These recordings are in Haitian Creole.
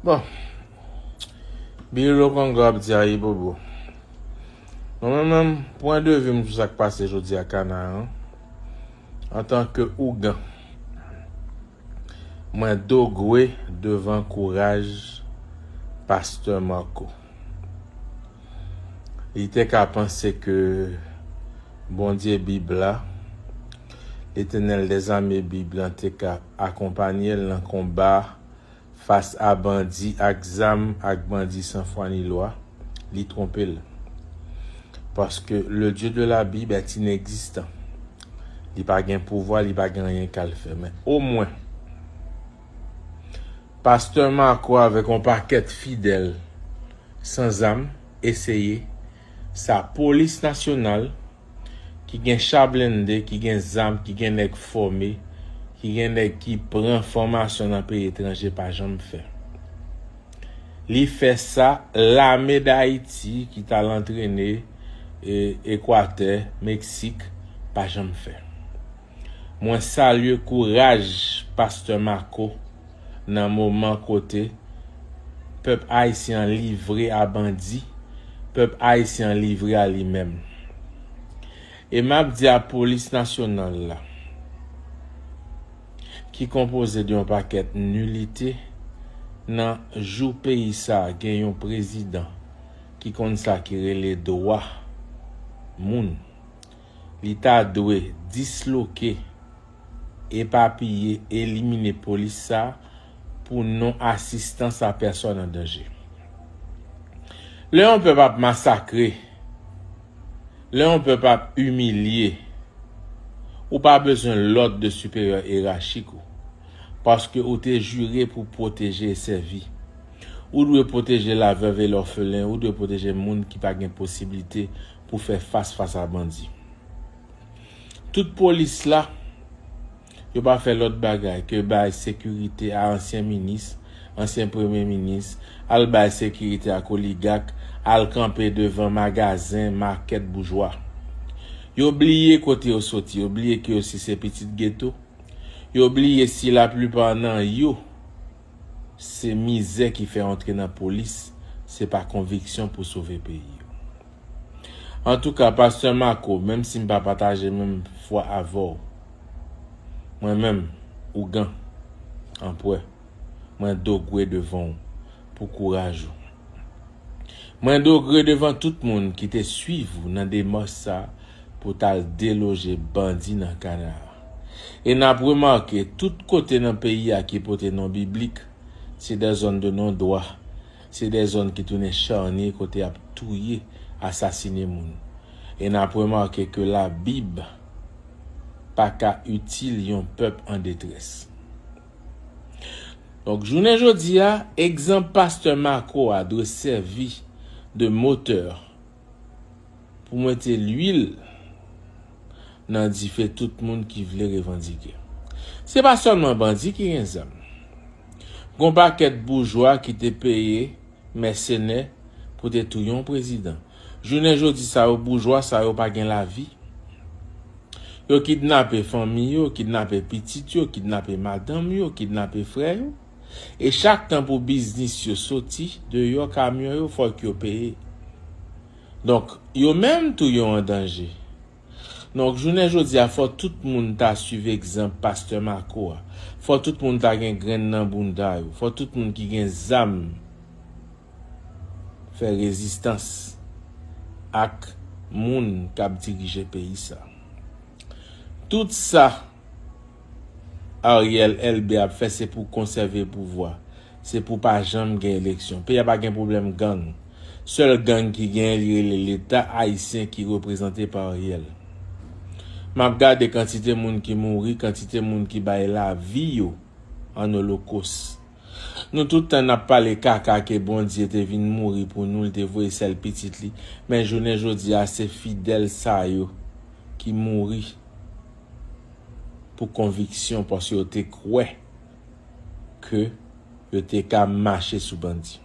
Bon, biye lò kon gwa ap di a yi bobo. Mwen mwen mwen, pwen de vim sou sak pase jodi a kana an. Antanke ougan, mwen dogwe devan kouraj Pastè Marco. Li te ka panse ke Bondye Bib la, Letènèl dèzame Bib lan te ka akonpanye l nan konba Fas a bandi ak zam ak bandi san fwa ni lwa, li twonpe l. Paske le Dieu de la Bible est inexistant. Li pa gen pouvwa, li pa gen anyen k al fè. Men omwen, pastè Marco avèk yon pakèt fidèl san zam eseye sa polis nasyonal, ki gen cha blende, ki gen zam, ki gen nèg fòme, ki gen nèg ki pran fòmasyon nan peyi etranje pa janm fè. Li fè sa lame Dayiti ki t al antrene Ekwatè, Meksik pa janm fè. Mwen salye kouraj Pasteur Marco nan moman kote Pèp Ayisyen an livre a bandi, Pèp Ayisyen an livre a li menm. E map di a Polis Nasyonal la ki konpoze de yon pakèt nilite nan jou peyi sa gen yon Prezidan ki konn sa ki rele dwa moun. Li ta dwe disloke, epapiye, elimine polis sa pou non asistans a pèsòn an danje. Lè yon pèp ap masakre, lè yon pèp ap imilye, ou pa bezwen lòd de siperyè erachik ou, paske ou te jire pou pwoteje e sèvi. Ou dwe pwoteje la vèv e lòfelen, ou dwe pwoteje moun ki pa gen posiblite pou fè fas fas a bandi. Tout polis la, yo pa fè lòt bagay ke bay sekirite a ansyen minis, ansyen premye minis, al bay sekirite ak oligak, al kanpe devan magazen, makèt boujwa. Yo bliye kote yo soti, yo bliye ke yo si se pitit geto, yo bliye si la plipa nan yo se mizè ki fè antre nan polis, se pa konviksyon pou sove peyi yo. Antouka pastè Marco menm si m pa pataje menm fwa avè w mwen menm ougan anpwè mwen dogwe devan w pou kouraj ou mwen dogre devan tout moun ki te swiv ou nan demach sa pou t al deloje bandi nan kana a e nap remake tout kote nan peyi a ki pote non biblik se dè zòn de non dwa Se de zòn ki tounen charnier kote y ap touye, asasine moun. E n ap remake ke Labib pa ka itil yon pèp an detrès. Donk, jounen jodi a, egzanp pastè Marco a dwe sèvi de motè. Pou mwete lwil nan dife tout moun ki vle revandike. Se pa sèlman bandi ki gen zam. Gon pakèt boujwa ki te peye mèsenè pou te touye yon prezidan. Jounen jodi sa yo boujwa sa yo pa gen lavi. Yo kidnape fanmi yo, kidnape pitit yo, kidnape madanm yo, kidnape frè yo. E chak tan pou biznis yo soti deyò kamyon yo fòk yo peye. Donk yo menm tou yo an danje. Donk jounen jodi a fò tout moun ta swiv egzanp pastè Marco a. Fò tout moun ta gen grenn nan bounda yo. Fò tout moun ki gen zam fè rezistans ak moun k ap dirije peyi sa. Tout sa. Ariel elbe ap fè se pou konsève pouvwa se pou pa janm gen eleksyon peyi a pa gen pwoblèm gang sèl gang ki gen li rele leta ayisyen ki reprezante pa Ariel map gade kantite moun ki mouri kantite moun ki bay lavi yo an olokos nou tout tan nap pale kaka ke Bondye te vin mouri pou nou li te voye sèl pitit li men jounen jodi a se fidèl sa yo ki mouri. pou konviksyon paske yo te kwè ke yo te ka mache sou bandi.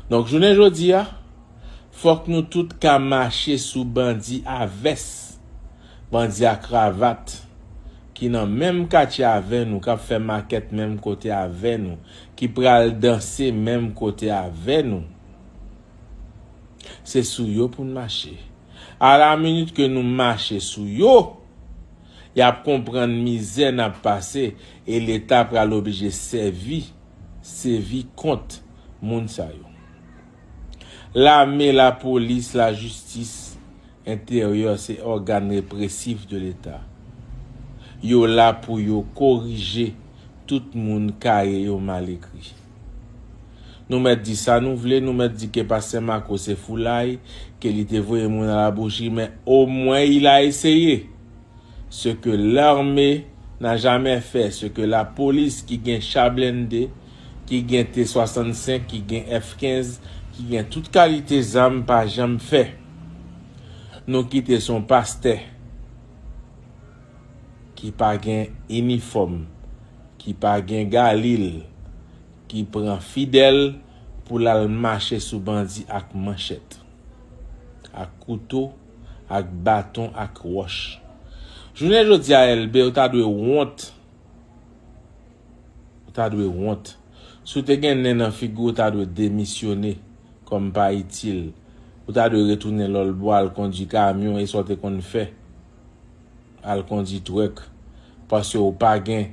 Donk jounen jodi a, fòk nou tout ka mache sou bandi a vès, bandi a kravat, ki nan menm katye avè nou, k ap fè makèt menm kote avè nou, ki pral danse menm kote avè nou. Se sou yo pou n mache. A la minit ke nou mache sou yo, y ap konprann mizè n ap pase e Leta pral oblije sèvi sevi kont moun sa yo. Lame, lapolis, lajistis, enteryè se ògàn represif de Leta. Yo la pou yo korije tout moun kaye yo mal ekri. Nou mèt di sa nou vle, nou mèt di ke Pastè Marco se foulay, ke li te voye moun a la bouchi, men o mwen il a essayé! Ce que l'armée n'a jamais fait, ce que la police ki gen cha blende, ki gen T65, ki gen F15, ki gen tout kalite zam pa janm fè. Nou kite se yon pastè ki pa gen inifòm. ki pa gen galil ki pran fidel pou lal mache sou bandi ak manchet ak kouto ak baton ak roch jounen jodia elbe ou ta dwe wont ou ta dwe wont si ou te gen nen nan figiw ou ta dwe demisyone kom pa itil ou ta dwe retounen lolbo al kondwi kamyon e sa ou te konn fè. al kondi twèk paske ou pa gen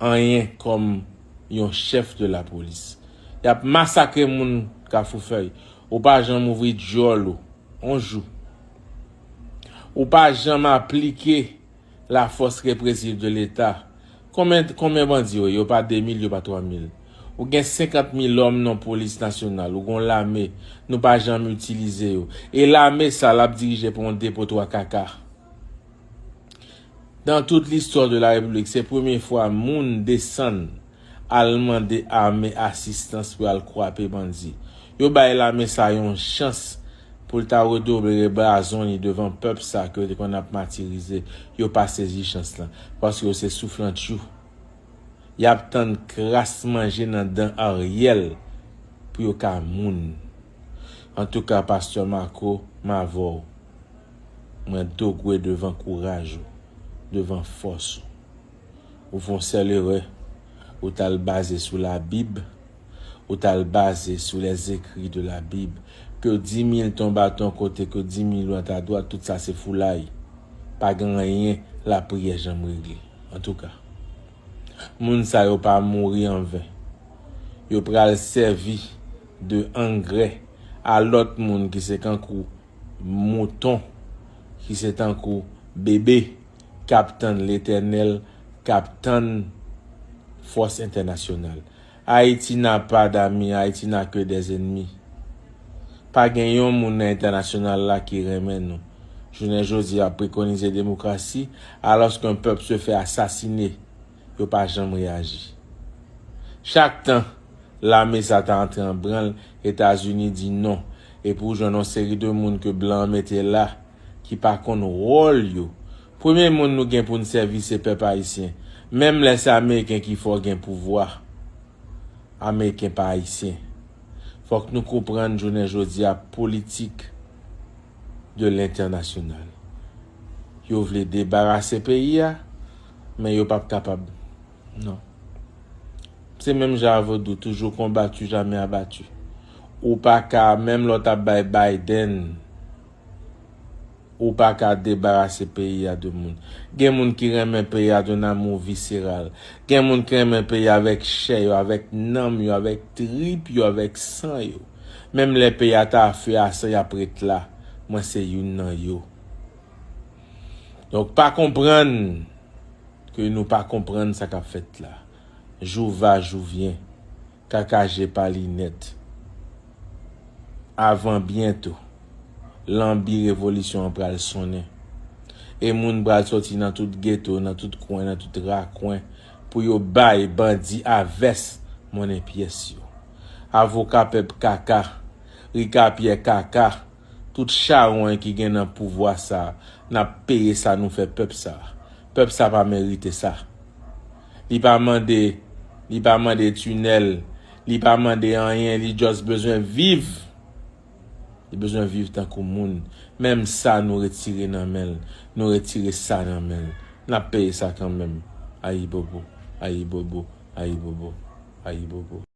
anyen kòm yon chèf de la polis yap masakre moun kafou fèy ou pa janm ouvri dyòl ou on jou ou pa janm aplike la fòs represiv de leta Konbyen konbyen bandi yo ye yo pa 2000 yo pa 3000 ou gen 50 milòm non polis nasyonal ou gon lame nou pa janm itilize yo e lame sa lap dirije pou yon depo 3 kaka dan tout listwa de la repiblik se premye fwa moun desann al mande ame asistans pou yal kwape bandi yo bay lame sa yon chans Pou l ta redobre brazon li devan pèp sa ke yo te konn ap matirize. Yo pa sezi chans lan. Paske yo se souflantchou. Y ap tann kras manje nan dan Ariel pou yo ka moun. Antouka Pastè Marco, m avè w. Mwen dogwe devan kouraj ou. Devan fòs ou. Ou fè yon sèl erè. Ou t al baze sou labib. ou ta al baze sou les écrits de la bible ke di mil ton baton kote ke di mil lan ta dwat tout sa se foulay pa gen anyen lapriyè janm regle antouka moun sa yo pa mouri an ven yo pral sèvi de angrè a lòt moun ki se kankou mouton ki se tankou bebe kap tann letènèl kap tann fòs entènasyonal Haiti n'a pas d'amis Haiti n'a que des ennemis pa gen yon moun nan entènasyonal la ki renmen nou jounen jodi ap prekonize demokrasi alòs ke pèp se fè asasine yo pa janm reyaji chak tan lame sa ta antre an branl etazini di non epi ou jwenn yon seri de moun ke blan an mete la ki pa konn wòl yo Premye moun nou gen poun sèvi se pèp ayisyen menm lè se ameriken ki fò gen pouvwa ameriken pa ayisyen fòk nou konprann jounen jodia politik de lentènasyonal yo vle debarase peyi a men yo pap kapab non se menm jan a vodou toujou konbatu jamè abatu ou paka menm lè w tap bay Biden Ou pa ka debarase peyi a de moun. Gen moun ki renmen peyi a d'un amour visceral. Gen moun ki renmen peyi a avèk chè yo, avèk nanm yo, avèk trip yo, avèk san yo. Menm lè peyi a ta a feu a san y ap ret la. Mwen se youn nan yo. Donk pa konprann ke nou pa konprann sa k ap fèt la. Jou va, jou vyen. Kaka je pa linèt. Avan byento, lanbi revolisyon an pral sonnen. E moun pral soti nan tout geto, nan tout kwen, nan tout rakwen pou yo bay bandi a vès monnen pyès yo. Avoka pèp kaka, rikapyè kaka, tout chawony ki gen nan pouvwa sa a, n ap peye sa nou fè pèp sa a. Pèp sa a pa merite sa. li pa mande li pa mande tunèl li pa mande anyen li just bezwen viv li bezwen viv tankou moun menm sa nou retire nan menl nou retire sa nan menl nap peye sa kanmenm ayibobo ayibobo ayibobo ayibobo.